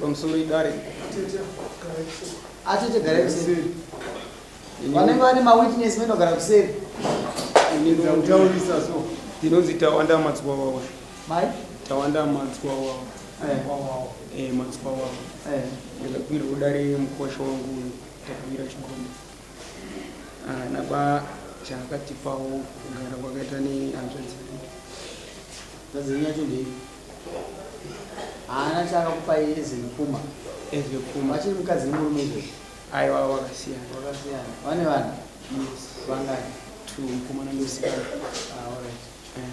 pamusoro idare atete gara kuseri vanenge vane mawitness vanogara kuseri ndinonzi tawanda madzibaba wacho Mai? Tawanda madzikwa wawo. Eh. Wawo. Eh, madzikwa wawo. Eh. Ndakabvira kudare mukosha wangu uyu. Ndakabvira chigombe. Ah, napa chakatipawo kugara kwakaita ne hanzvadzi. Hanzvadzi yenyu yacho ndei? Haana chakakupa iye zimukuma. Eh, zimukuma. Vachiri mukadzi nemurume izvo. Aiwa wakasiyana. Wakasiyana. Vane vana? Yes. Vangani? Two, mukoma na musikana. Ah, all right. Eh.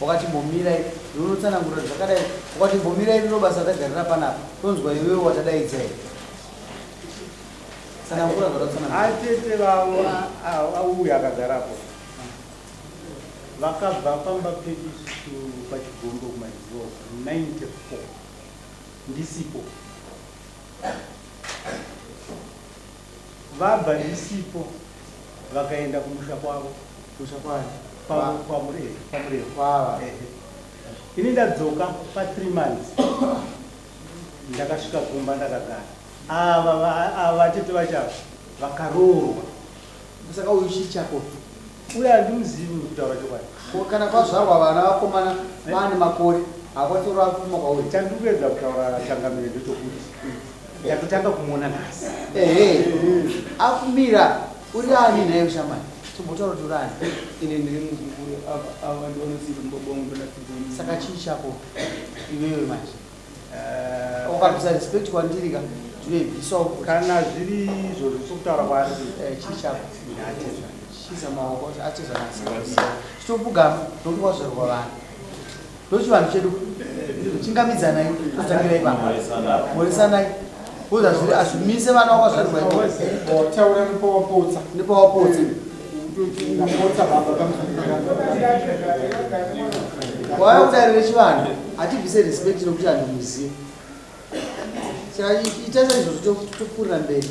Wakati imbomirai iwe unotsanangura zvakadai wakati imbomirai riro basa tagarira panapa tonzwa iwewe watadaidza here tsanangura zvatatsanangura atete vavo auya akagarapo vakabva pamba pedu isu pachigombo kumaizivo 94 ndisipo Vabva ndisipo vakaenda kumusha kwavo. Kumusha kwani? Kwamurevi. Kwamurevi. Kwava. Ehe. Ini ndadzoka pa 3 months. Ndakasvika kumba ndakagara. Ava ava tete vachava vakaroorwa. Saka uyu chichako. Uyu handimuzivi uyu kutaura chokwadi. Ko kana pazvarwa vana vakomana vaane makore hakwanise kurova kupfuma kwauri. Chandiri kuedza kutaura changamire ndechokuti ndatotanga kumuona nhasi. Ehe akumira uri ani nhaiwe shamani chimbotaura kuti uri ani. Ini ndiri muzukuru ava ava ndivanosiiva mubaba vangu ndonasiiva ini. Saka chii chako iwewe manje. Eh, ukarutsa respect kwandiri ka zvinoibvisawo kana zviri izvo zvisokutaura kwaari eh, chii chako ateza chiza maoko ateza nasi chitopugama nokuti wazvarwa vanhu ndochivanhu chedu chingamidzanai totangira ipapa moresanai Kuza zviri azvimise vana wako zvati waiko. Taura nipa wapotsa. Nipa wapotsa. Ndapotsa baba kamuzanira. Waya kudarire chivanhu atibvise respect nokuti anhu muziva. Saka ita saizvozvo tokurira mberi.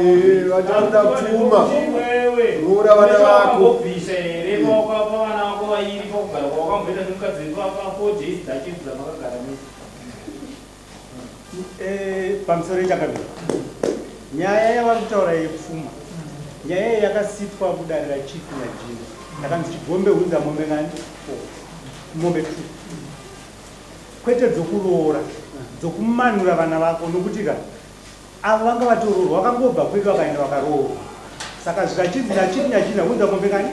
Eh, vachikuda pfuma roora vana vako eh, pamusoro ichakabira nyaya yavari kutaura yepfuma nyaya iyi yakasitwa kudarira chief najini ndakanzi chigombe hunza mombe ngani mombe t kwete dzokuroora dzokumanura vana vako nokuti ka Avo vanga vatoroorwa vakangobva kwedu vakaenda vakaroorwa saka zvikachinzi nyachiri nyachiri nakuudza mombe kani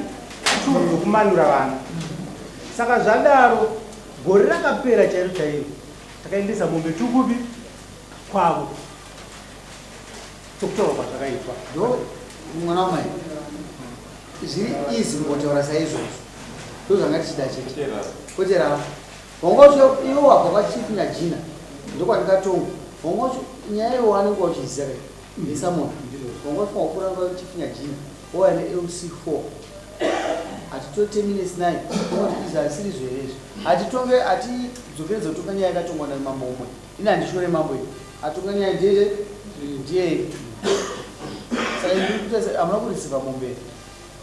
two dzokumanura vana saka zvadaro gore rakapera chairo chairo takaendesa mombe two kupi kwavo sokutorwa kwazvakaitwa ndo mwana wamai zviri izi mukotaura saizvozvo ndozvanga tichida chete koteravo Hongocho iwo wabva kwa chief Nyajina ndokwandikatonga Hongocho nyaya iwo wanenge wachiziva kai ndisa moto Hongocho wakura kwa chief Nyajina owa ne LC4 atitote minutes naye Hongocho izvi asiri zverezvi atitonge ati dzokere dzotonga nyaya yakatongwa na mambo umwe ini andishore mambo iwe atonga nyaya ndeye ndiye sai ndikuta amuna kurisiva mombe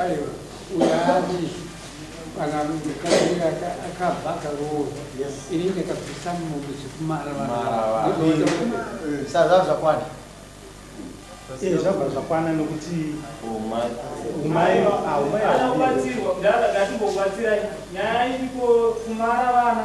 Aiwa uyo ati kana mukadzi akabva akaroora ini ndakabvisa mombe zvekumara sazvava zvakwana eh, zvabva zvakwana nokuti umai aubatsirwa ndakati mbobatsirai nyaya iriko kumara vana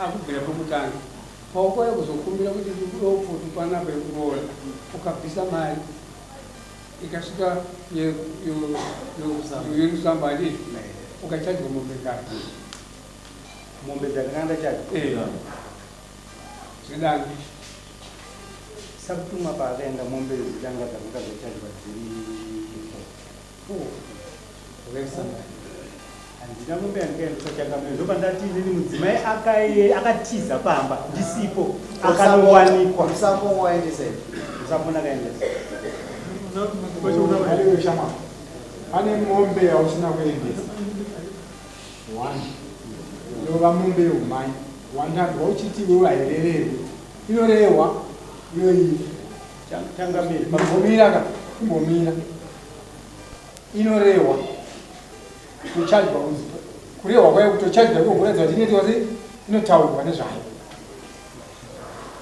Ah, kubvira pokutanga paukoya kuzokumbira kuti ndikudewo pfutu panapa yekuroora ukabvisa mari ikasvika yerusamba adi ukachajwa mombe kare mombe dzakanga ndachaja eh. zvidani sakutumwa paakaenda mombe dzitanga dzakanga dzachajwa dziri handina mombe yandikaendesa changamire ndoba ndati inini mudzimai akatiza pamba ndisipo akanowanikwa musambo waendesa musambo ndakaendesa pane mombe yausina kuendesa one yova mombe yeumai wandanzwa uchiti iwewe hairerewe inorehwa iyoyi changamire kumbomira ka kumbomira inorehwa kuchajwa kunzi kurehwa kwayo kutochajwa iko kuratidza kuti inoitwa sei inotaurwa nezvayo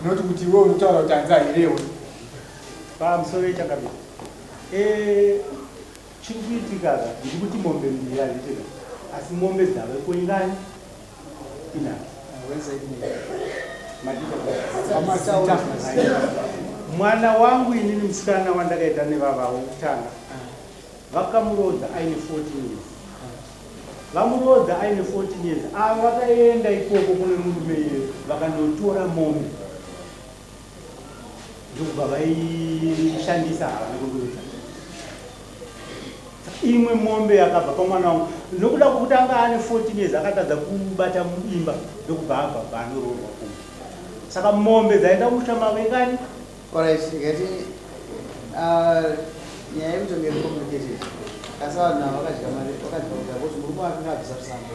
noti kuti iwe unotaura kuti hanzi hairehwe pamusoro yechakabiri eh, chiri kuitikaza ndiri kuti mombe mbiri hazvitika asi mombe dzave kuingani mwana wangu inini musikana wandakaita nevava wokutanga vakamuroodza aine 14 years vamuroodza aine 14 years ava vakaenda ikoko kune murume iye vakandotora mombe ndokubva vaishandisa havana kundiudza imwe mombe yakabva pamwana wangu nokuda kwokuti anga ane 14 years akatadza kubata imba ndokubva abva bvaanoroorwa kumba saka mombe dzaenda kumusha mavo ingani oraisingati uh, nyaya yekutonge complicated asi vanhu ava vakadya mari vakadya kudya kuti murume wake ngaabvisa kusambo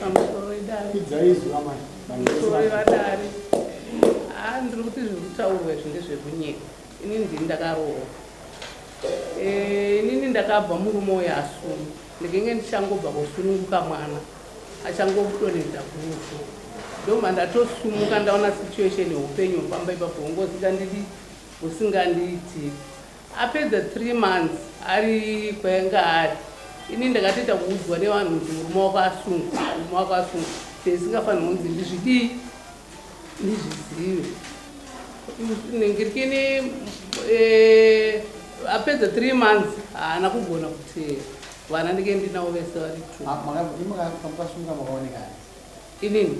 pamusoro wedare idzaizuva mai pamusoro vedare haa ndiri kuti zviri kutaurwa izvi ndezvekunyika ini ndini ndakaroora eh, inini ndakabva murume uyo asunu ndikenge ndichangobva kusununguka mwana achangokudonedza kurufu ndoma ndatosumuka ndaona situation yeupenyu hufamba ipapo hungozika ndiri husingandiitiri Apedza three months ari kwainga ari ini ndakatoita kuudzwa nevanhu kuti murume wako asungwa murume wako asungwa zvisingafanirwa kunzi ndizvidii ndizvizive ngirikini eh, apedza three months haana kugona kuteera vana ndike ndinavo vese vari tmakasunga makaonekana inini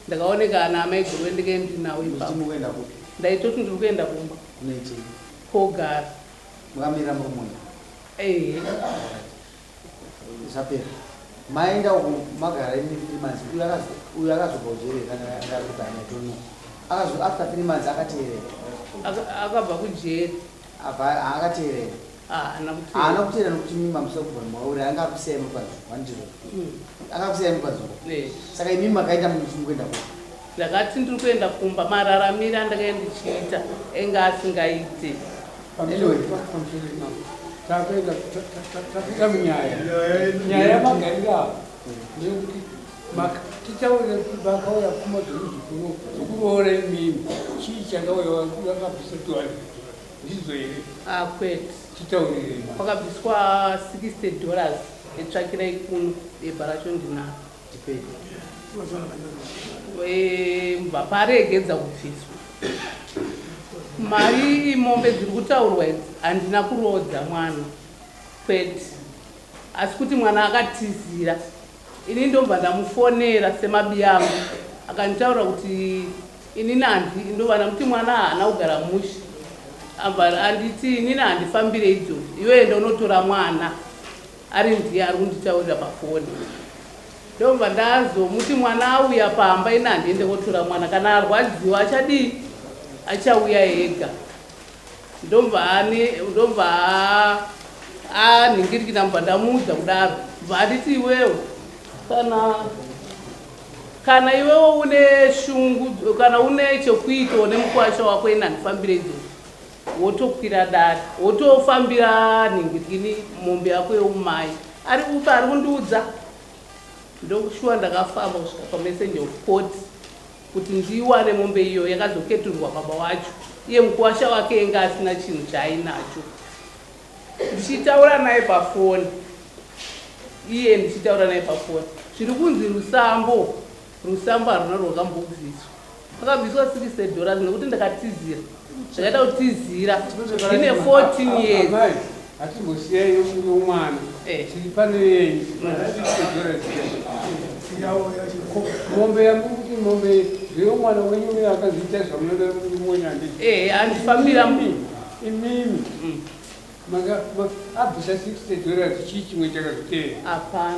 ndakaonekana amai gove ndike ndinavo ipapo ndaitoti ndiri kuenda kumba Ko Gari. Makamira muri moyo. Ehe. zvapera maenda uku magara imi three months uyu akazobva kujeri kana ndakubhana tono akazo after three months akateerera akabva kujeri abva akateerera haana kuteera nokuti mimi mamusa kubva mwauri anga akusiya imi kwazo wandiro hmm. akakusiya imi kwazo saka imimi makaita muchimi kuenda kuo Ndakati ndiri kuenda kumba mararamire andakanga ndichiita enge asingaite. Anyway, takuenda tapinda munyaya nyaya yamagariro avo ndeyekuti tichaona vakauya pfuma dzemuzukuru dzekuroora imimi chii changauya vakabvisa tiwani ndizo here ah, kwete titaurirei kwakabviswa 60 dollars etsvakirai kuno bhebha racho ndinaro vaparegedza kubviswa mari imombe dziri kutaurwa idzi handina kuroodza mwana kwete asi kuti mwana akatizira ini ndobva ndamufonera semabiyangu akanditaura kuti ini nanzi ndobva ndamuti mwana haana kugara mushi abva anditi inini handifambire idzo iwe enda unotora mwana Ari ndiye ari kunditaurira pafoni ndobva ndazomuti mwana auya pamba ini handiende kotora mwana kana arwadziwa achadii achauya ega ndobva ani ndobva anhingirikina mubva ndamuudza kudaro bva anditi iwewo kana kana iwewo une shungu kana une chekuitawo nemukwasha wako ini handifambire idzo Wotokwira dare wotofambira nhingwitini mombe yako yeumai ari upe ari kundiudza ndokushuwa ndakafamba kusvika pamessenger of court kuti ndiiwane mombe iyo yakazoketurwa baba wacho iye mukuwasha wake enga asina chinhu chaainacho ndichitaura naye pafoni iye ndichitaura naye pafoni zviri kunzi rusambo Rusambo haruna rwakambobviswa. Pakabviswa six dollars nekuti ndakatizira. Ndakaita kutizira. Ndine 14 years. Amai, hatimbosiyai nomwana. Eh. Tiri pano yenyu. Mombe yangu kuti mombe zveyo mwana wenyu uyo akazviita zvamunoda kuti muone handiti. Eh, handifambira mbi. Imimi. Mm. Maka, ma, abvisa 60 dollars chii chimwe chakazvitera. Hapana.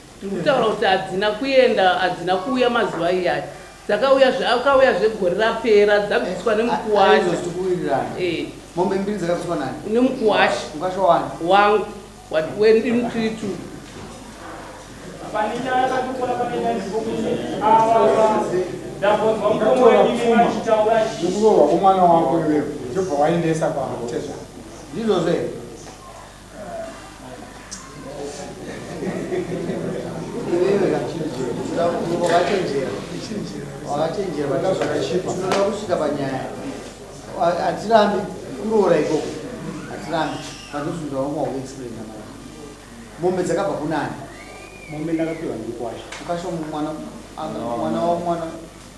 Ndikutaura kuti hadzina kuenda hadzina kuuya mazuva iyaya dzakauya zvakauya zvegore rapera dzabviswa nemukuwasha eh. mombe mbiri dzakabviswa nani nemukuwasha mukasha wani wangu wendimtiritu ndikurohwa kwomwana wako iwewe ndobva waendesa kwakutezvaa ndizvozve hatirambi kuroora ikoko hatirambi panozunda wangu wakuexplaina mara mombe dzakabva kunani mombe ndakapiwa ndikwasha ukasha mwana mwana wamwana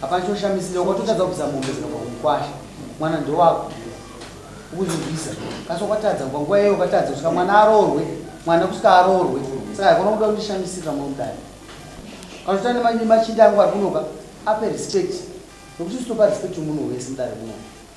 Hapana choshamisira wakatotadza kubvisa mombe dzikabva kumukwasha mwana ndowako ukuzivisa kasi wakatadza kubva nguva iyeyo ukatadza kusvika mwana aroorwe mwana kusvika aroorwe saka haikona kuda kundishamisira mwa mudani kanotoita nemachinda angu ari kunoka ape respect nokuti sitopa respect yomunhu wese mudare munoka